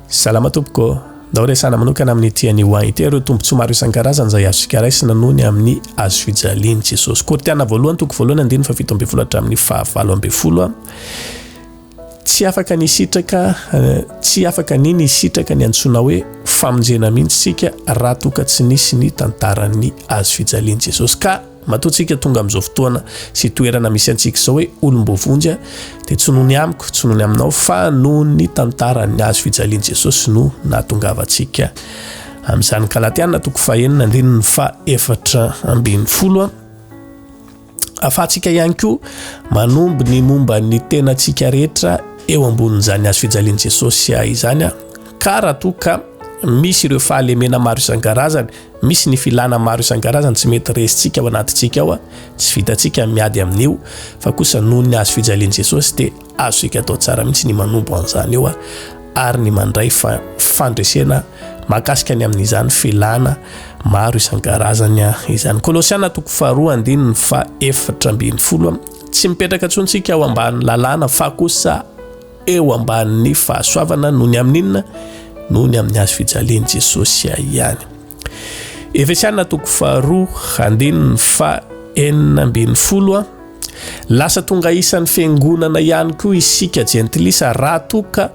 Salama tompoko, ndao resahana manokana amin'ny tian'i Wang ity ireo tombontsoa maro isan-karazany izay azontsika raisina noho ny amin'ny hazofijalian'i Jesosy. Kortiana voalohany, toko voalohany, andininy fahafito ambin'ny folo hatramin'ny fahavalo ambin'ny folo. Tsy afaka ny sitraka, eh, tsy afaka ny ny sitraka ny antsoina hoe famonjena mihitsy isika raha toa ka tsy nisy ny tantaran'ny hazofijalian'i Jesosy ka Matoa tsika tonga amin'izao fotoana sy toerana misy antsika izao hoe olom-boavonjy dia tsy noho ny amiko, tsy noho ny aminao fa noho ny tantara ny hazo fijalian'i Jesosy no nahatongavantsika amin'izany. Galatiana toko fahenina andininy fahefatra ambin'ny folo. Afahantsika ihany koa manombo ny momba ny tenantsika rehetra eo ambonin'izany hazo fijalian'i Jesosy izany ka raha toa ka misy ireo fahalemena maro isan-karazany Misy ny filana maro isan-karazany tsy mety resintsika ao anatintsika ao, tsy vitantsika ny miady amin'io, fa kosa noho ny hazo fijalian'i Jesosy dia azontsika atao tsara mihitsy ny manompo an'izany eo ary ny mandray fandresena mahakasika ny amin'izany filana maro isan-karazany izany. Kolosiana toko faharoa andininy fahaefatra ambin'ny folo, Tsy mipetraka intsony isika ao ambany lalàna fa kosa Eo ambanin'ny fahasoavana noho ny amin'ny inona? Noho ny amin'ny hazo fijalian'i Jesosy ihany. Efesiana toko faharoa andininy fa enina ambin'ny folo Lasa tonga isan'ny fiangonana ihany koa isika jentilisa raha toa ka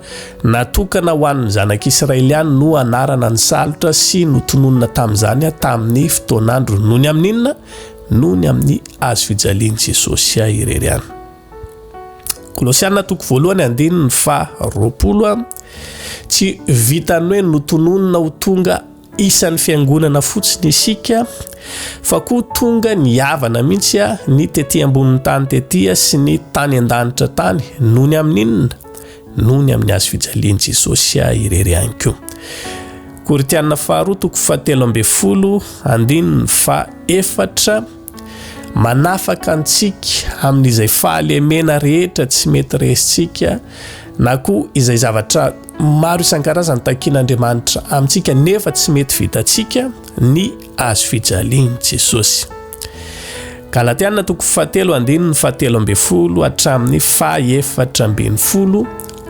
natokana ho an'ny zanak'Israely ihany no anarana ny salotra sy notononina tamin'izany tamin'ny fotoan'andro noho ny amin'ny inona? Noho ny amin'ny hazo fijalian'i Jesosy irery ihany. Kolosiana toko voalohany andininy faha roapolo a Tsy vitan'ny hoe notononina ho tonga isan'ny fiangonana fotsiny isika fa koa tonga nihavana mihitsy a ny tety ambonin'ny tany tety a sy ny tany an-danitra tany noho ny amin'ny inona? noho ny amin'ny hazo fijalian'i Jesosy a irery ihany koa. Korintiana faharoa toko fahatelo ambin'ny folo andininy faha efatra. Manafaka antsika amin'izay fahalemena rehetra tsy mety resintsika na koa izay zavatra maro isan-karazany takian'Andriamanitra amintsika nefa tsy mety vitantsika ny azo fijalian'i Jesosy. Galatiana toko fahatelo andininy fahatelo ambin'ny folo hatramin'ny fahefatra ambin'ny folo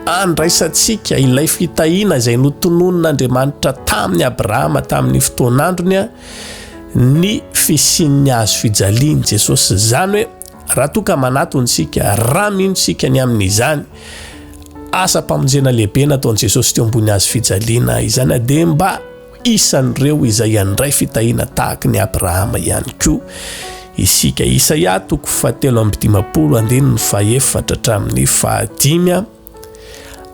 andraisantsika ilay fitahiana izay notononin'Andriamanitra tamin'i Abrahama tamin'ny fotoan'androny ny fisian'ny hazo fijalian'i Jesosy. Izany hoe raha toa ka manatona isika, raha mino isika ny amin'izany asam-pamonjena lehibe nataon'i Jesosy teo ambony hazo fijaliana izany, dia mba isan'ireo izay handray fitahiana tahaka ny Abrahama ihany koa isika. Isaia toko fahatelo amby dimampolo andininy fahefatra hatramin'ny fahadimy.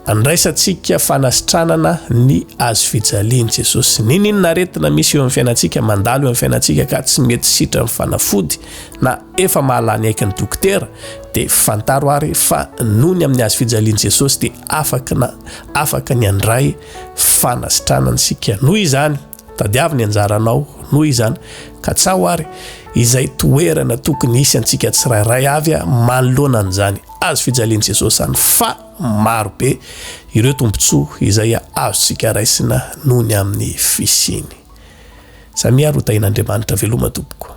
Andraisantsika fanasitranana ny hazo fijalian'i Jesosy. N'inon'inona aretina misy eo amin'ny fiainantsika, mandalo eo amin'ny fiainantsika ka tsy mety sitran'ny fanafody na efa mahalany aiky ny dokotera, dia fantaro ary fa noho ny amin'ny hazo fijalian'i Jesosy dia afaka na afaka ny handray fanasitranana isika. Noho izany, Tadiavo ny anjaranao, noho izany, ka tsaho ary izay toerana tokony hisy antsika tsirairay avy manoloana an'izany hazo fijalian'i Jesosy izany, fa maro be ireo tombontsoa izay azontsika raisina noho ny amin'ny fisiany. Samia ary ho tahin'Andriamanitra veloma tompoko.